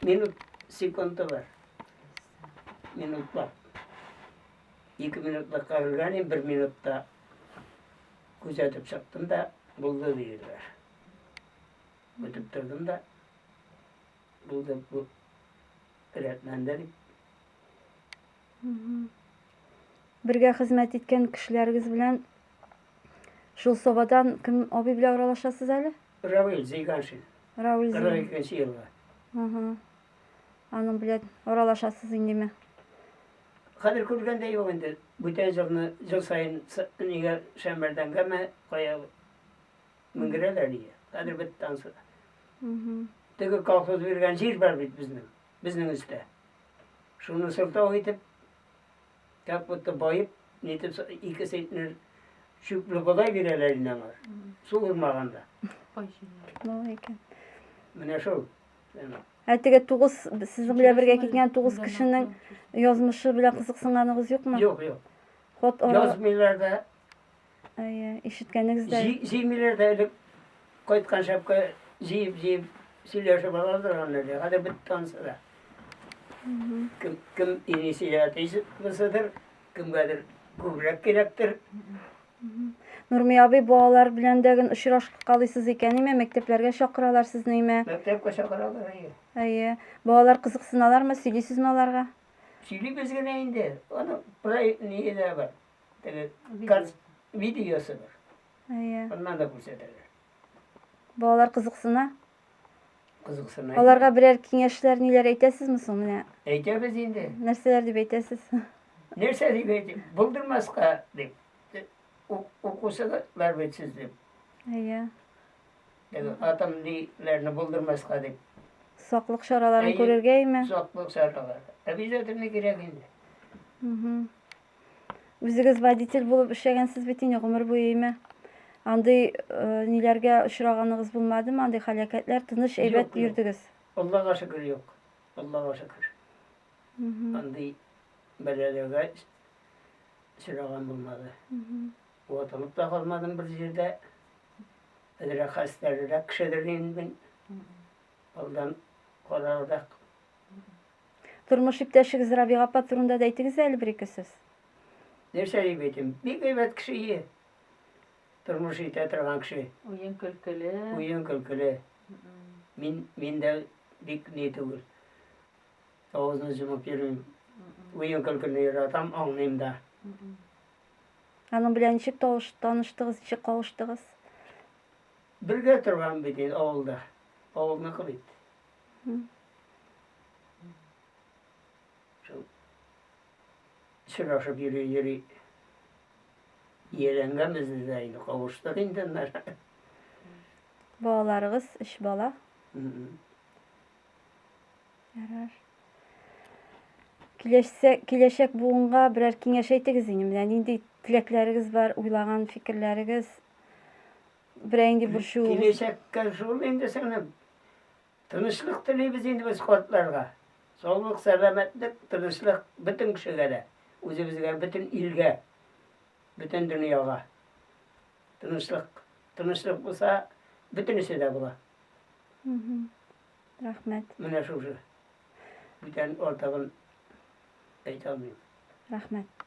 Минут секунды бар. Минутлар. Ике минутлар кагылган, ин бер минутта күзәтеп чыктым да, булды диделәр. Бүтеп тордым да, булды бу рәтләнде дип. Бергә хезмәт иткән кешеләрегез белән Шул собадан кем абый белән аралашасыз әле? Равил Зейганшин. Равил Зейганшин. 42 елга. Ага. Аның белән аралашасыз индеме? Хәзер күргәндә юк инде. Бүтән җылны җыл саен нигә шәмбәрдән гәмә кая менгерәләр нигә. Хәзер бит тансы. Теге колхоз биргән җир бар бит безнең. Безнең өстә. Шуны сылтау итеп Так будто баеп, нитеп ике центнер чүпле бодай бирәләр инде аңа. Су урмаганда. Мал икән. Менә шул. Ә теге тугыз сезнең белән бергә киткән тугыз кешенең язмышы белән кызыксынганыгыз юкмы? Юк, юк. Хот ара... Язмыйлар да, Әйе, ишеткәнегездәй. Җи, җимиләр дә элек кайткан шәпкә җиеп җиеп сөйләшеп алалар аны әле. Хәзер бит танса да. Кем кем инисия тизсидер, кемгәдер күбрәк кирәктер. Нурми абый балалар белән дә гын очрашып калыйсыз икән, име мәктәпләргә чакыралар сезне име? Мәктәпкә чакыралар әйе. Әйе. Балалар кызыксыналармы, сөйлисезме аларга? Сөйлибез генә инде. Аны проект ни дә бар. теге карт видеосы бар. Әйе. Аннан да күрсәтәләр. Балалар кызыксына. Кызыксына. Аларга берәр киңәшләр ниләр әйтәсезме соң менә? Әйтәбез инде. Нәрсәләр дип әйтәсез? Нәрсә дип әйтим? Булдырмаска дип. Укусызлар бит сез дип. Әйе. Атам диләрне булдырмаска дип. Саклык чараларын күрергә име? Саклык чаралары. Обязательно кирәк инде. Угу. Үзегез водитель булып эшләгәнсез бит инде гомер буе име? Андый э, ниләргә очраганыгыз булмадымы? Андый халәкәтләр тыныч әйбәт Юк, юк. йөрдегез. Аллага шөкер юк. Аллага шөкер. Андый бәләләргә сөрәгән булмады. Ватылып та калмадым бер җирдә. Әзрәк хәстәррәк кешедер инде мин. Алдан карарак Тормыш иптәшегез Рабига апа турында да әйтегез әле бер-ике сүз. Нәрсә дип әйтим? Бик әйбәт кеше ие. Тормыш итә торган кеше. Уен көлкеле. Уен көлкеле. Мин, мин дә бик ни түгел. Авызны җымып йөрмим. Уен көлкене яратам, аңлыйм да. Аның белән ничек таныштыгыз, ничек кавыштыгыз? Бергә торган бит инде авылда. Авылныкы бит. Сорашып йөри йөри ияләнгәнбез дә инде кавыштык инде аннары. Балаларыгыз өч бала. Ярар. Киләчәк киләчәк буынга берәр киңәш әйтегез инде. Менә нинди теләкләрегез бар, уйлаган фикерләрегез? Берәй инде бер шуу. Киләчәккә шул инде сеңлем. Тынычлык телибез инде без картларга. Саулык, сәламәтлек, тынычлык бөтен кешегә дә. Үзебезгә, бөтен илгә, бөтен дөньяга. Тынычлык. Тынычлык булса, бөтенесе дә була. Рәхмәт. Менә шушы. Бүтән артыгын әйтә алмыйм. Рәхмәт.